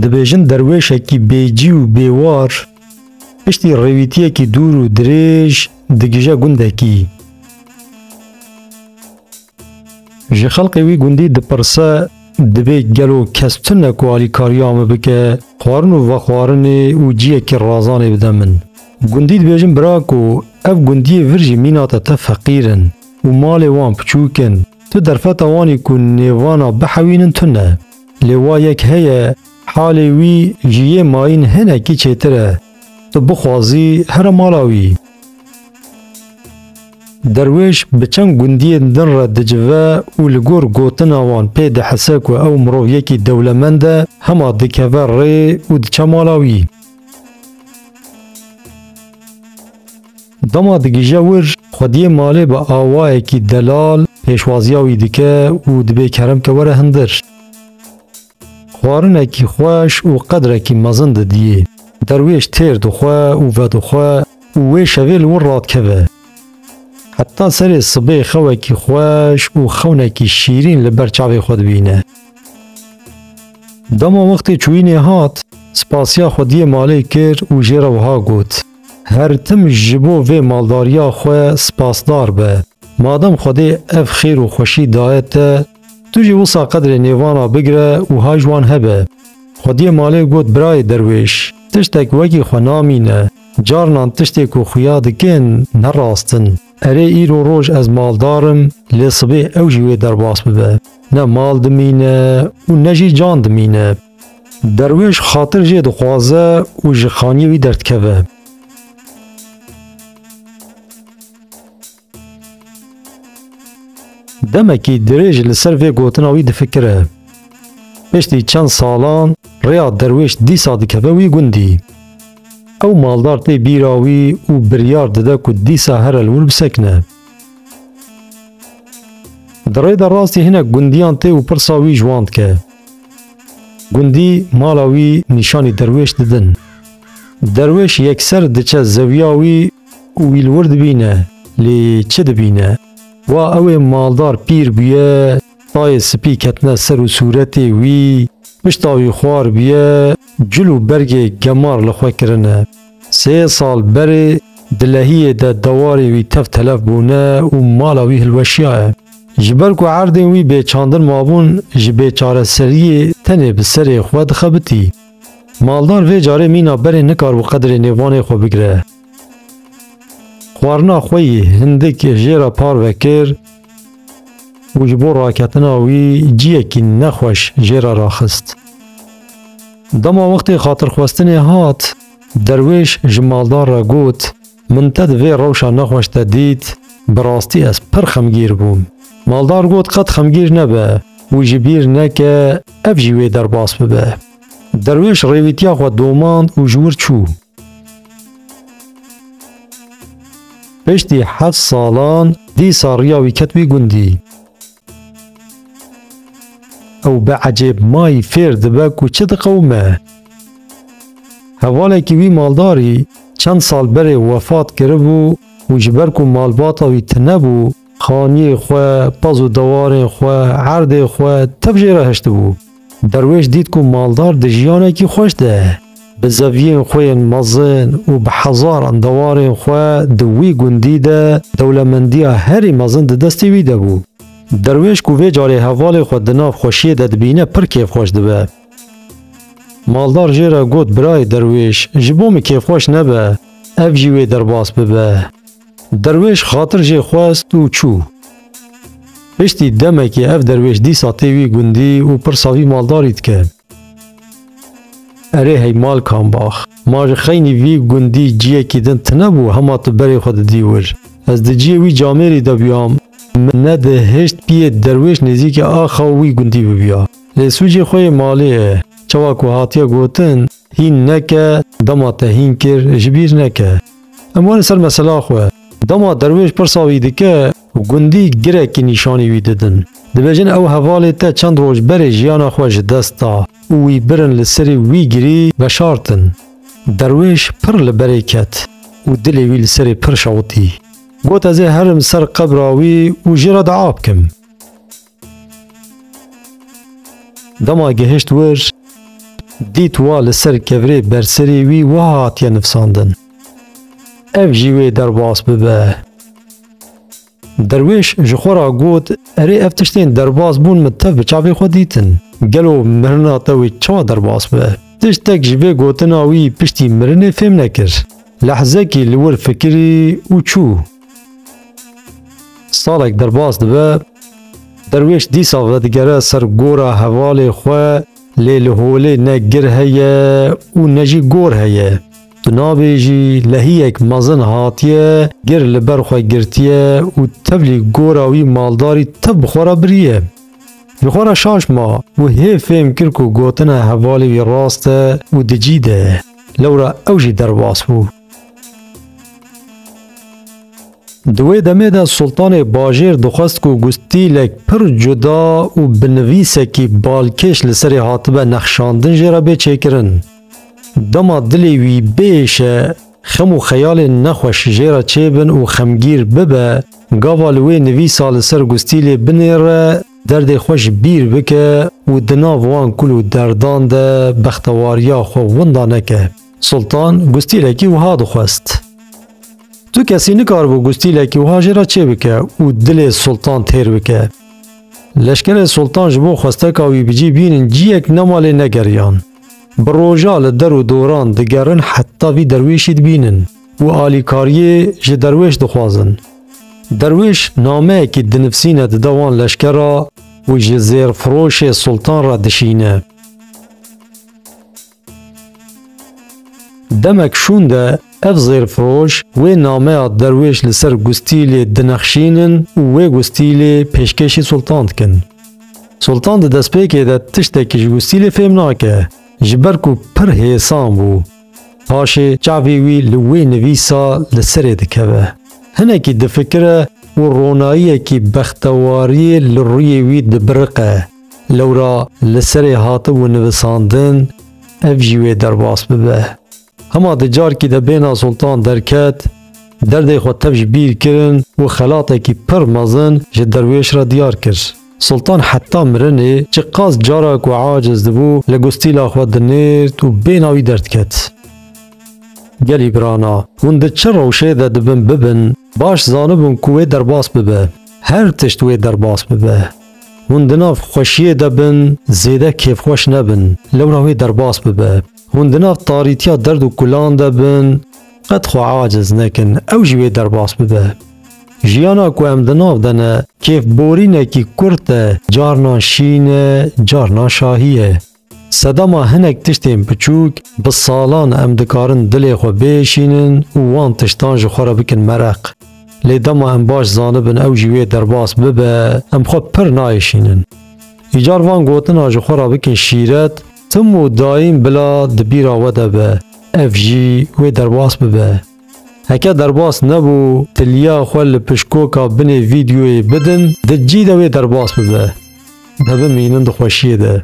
Dibêjin derwêşekî bêcî û bêwar piştî rêwîtiyekî dûr û dirêj digije gundekî. Ji xelkê wî gundî dipirse dibê gelo kes tune ku alîkariya min bike, xwarin û vexwarinê û ciyekî razanê bide min. Gundî dibêjin bira ku ev gundiyê vir jî mîna te te feqîr in û malê wan piçûk in. Tu derfeta wanî ku nêvana bihewînin tune. Lê wa yek heye halê wî ji yê mayîn hinekî çêtir e. Tu bixwazî here mala wî. Derwêş bi çend gundiyên din re dicive û li gor gotina wan pê dihise ku ew mirov yekî dewlemend e, hema dikeve rê û diçe mala wî. Dema digije wir, xwediyê malê bi awayekî delal pêşwaziya wî dike û dibê kerem ke were hundir. Xwarinekî xweş û qedrekî mezin didiyê. Derwêş têr dixwe û vedixwe û wê şevê li wir radikeve. Heta serê sibê xewekî xweş û xewnekî şîrîn li ber çavê xwe dibîne. Dema wextê çûyînê hat, spasiya xwediyê malê kir û jê re wiha got. Her tim ji bo vê maldariya xwe spasdar be. Madem Xwedê ev xêr û xweşî daye te, tu jî wisa qedrê nêvana bigire û ha ji wan hebe. Xwediyê malê got birayê derwêş, tiştek wekî xwe namîne, carinan tiştê ku xuya dikin ne rast in. Erê îro roj ez maldar im, lê sibê ew jî wê derbas bibe. Ne mal dimîne û ne jî can dimîne. Derwêş xatir jê dixwaze û ji xaniyê wî derdikeve. Demekî dirêj li ser vê gotina wî difikire. Piştî çend salan rêya derwêş dîsa dikeve wî gundî. Ew maldar tê bîra wî û biryar dide ku dîsa here li wir bisekine. Di rê de rastî hinek gundiyan tê û pirsa wî ji wan dike. Gundî mala wî nîşanî derwêş didin. Derwêş yekser diçe zewiya wî û wî li wir dibîne lê çi dibîne? Wa ew ê maldar pîr bûye, tayê sipî ketine ser û sûretê wî pişta wî xwar bûye, cil û bergê gemar li xwe kirine. Sê sal berê di lehiyê de dewarê wî tev telef bûne û mala wî hilweşiyaye. Ji ber ku erdên wî bêçandin mabûn ji bêçareseriyê tenê bi serê xwe dixebitî. Maldar vê carê mîna berê nikar bi qedrê nêvanê xwe bigire. Xwarina xwe yî hindik jê re parve kir û ji bo raketina wî ciyekî nexweş jê re raxist. Dema wextê xatirxwestinê hat, derwêş ji maldar re got, Min te di vê rewşa nexweş de dît, bi rastî ez pir xemgîr bûm. Maldar got, Qet xemgîr nebe û ji bîr neke ev jî wê derbas bibe. Derwêş rêwîtiya xwe domand û ji wir çû. Piştî heft salan dîsa riya wî ket wî gundî. Ew bi ecêb mayî fêr dibe ku çi diqewime. Hevalekî wî maldarî çend sal berê wefat kiribû û ji ber ku malbata wî tine bû, xaniyê xwe, pez û dewarên xwe, erdê xwe tev jê re hiştibû. Derwêş dît ku maldar di jiyanekî xweş de ye. Bi zeviyên xwe yên mezin û bi hezaran dewarên xwe di wî gundî de dewlemendiya herî mezin di destê wî de bû. Derwêş ku vê carê hevalê xwe di nav xweşiyê de dibîne pir kêfxweş dibe. Maldar jê re got, Birayê derwêş, ji bo min kêfxweş nebe, ev jî wê derbas bibe. Derwêş xatir jê xwest û çû. Piştî demekê ev derwêş dîsa tê wî gundî û pirsa vî maldarî dike. Erê hey Malkanbax, ma ji xeynî vî gundî ciyekî din tune bû hema tu berê xwe didî wir. Ez di ciyê wî camêrî de bûyam, min nedihişt piyê derwêş nêzîkê axa wî gundî bibûya. Lê sûcê xwe yê malê ye. Çawa ku hatiye gotin, Hîn neke, dema te hîn kir, ji bîr neke. Em wan ser mesela xwe. Dema derwêş pirsa wî dike, gundî girekî nîşanî wî didin. Dibêjin ew hevalê te çend roj berê jiyana xwe ji dest da û wî birin li serî wî girî veşartin. Derwêş pir li berê ket û dilê wî li serê pir şewitî. Got ez ê herim ser qebra wî û jê re diav bikim. Dema gehişt wir, dît wa li ser kevirê berserî wî wiha hatiye nivsandin, Ev jî wê derbas bibe. Derwêş ji xwe re got, Erê ev tiştên derbas bûn min tev bi çavê xwe dîtin. Gelo mirina te wê çawa derbas bibe? Tiştek ji vê gotina wî piştî mirinê fêm nekir. Lehzekî li wir fikirî û çû. Salek derbas dibe, derwêş dîsa vedigere ser gora hevalê xwe lê li holê ne gir heye û ne jî gor heye. Tu nabêjî lehiyek mezin hatiye gir li ber xwe girtiye û tevlî gora wî maldarî tev bi xwe re biriye. Ji xwe re şaş ma û hê fêm kir ku gotina hevalê wî rast e û di cî de ye. Lewra ew jî derbas bû. Di wê demê de Sultanê Bajêr dixwest ku ku stîlek pir cuda û bi nivîsekî balkêş li serê hatibe nexşandin jê re bê çêkirin. Dema dilê wî bêşe, xem û xeyalên nexweş jê re çêbin û xemgîr bibe, gava li wê nivîsa li ser ku stîlê binêre, derdê xwe ji bîr bike û di nav wan kul û derdan de bextewariya xwe winda neke. Sultan gustîlekî wiha dixwest. Tu kesî nikaribû gustîlekî wiha jê re çêbike û dilê Sultan têr bike. Leşkerê Sultan ji bo xwesteka wî bi cî bînin ciyek ne malê ne geriyan. Bi roja li der û doran digerin heta vî derwêşî dibînin û alîkariyê ji derwêş dixwazin. Derwêş nameyekî dinivsîne dide wan leşkera û ji zêrfiroşê Sultan re dişîne. Demek şûn de ev zêrfiroş wê nameya derwêş li ser gustîlê dinexşînin û wê gustîlê pêşkêşî Sultan dikin. Sultan di destpêkê de tiştekî ji gustîlê fêm nake, ji ber ku pir hêsan bû. Paşê çavê wî li wê nivîsa li serê dikeve. Hinekî difikire û ronayiyekî bextewariyê li rûyê wî dibiriqe. Lewra li serê hatibû nivisandin ev jî wê derbas bibe. Hema di carkî de bêhna Sultan derket, derdê xwe tev ji bîr kirin û xelatekî pir mezin ji derwêş re diyar kir. Sultan heta mirinê çi qas cara ku aciz dibû li gustîla xwe dinêrt û bêhna wî derdket. Gelî birana, hûn di çi rewşê de dibin bibin, baş zanibûn ku wê derbas bibe. Her tişt wê derbas bibe. Hûn di nav xweşiyê de bin, zêde kêfxweş nebin, lewra wê derbas bibe. Hûn di nav tarîtiya derd û kulan de bin, qet xwe aciz nekin, ew jî wê derbas bibe. Jiyana ku em di nav de ne, kêfborînekî kurt e, carnan şîn e, carnan şahî ye. Sedema hinek tiştên piçûk bi salan em dikarin dilê xwe bêşînin û wan tiştan ji xwe re bikin mereq. Lê dema em baş zanibin ew jî wê derbas bibe, em xwe pir nayêşînin. Îcar van gotina ji xwe re bikin şîret, tim û daîm bila di bîra we de be, ev jî wê derbas bibe. Heke derbas nebû tiliya xwe li pişkoka binê vîdeoyê bidin, di cî de wê derbas bibe. De bimînin di xweşiyê de.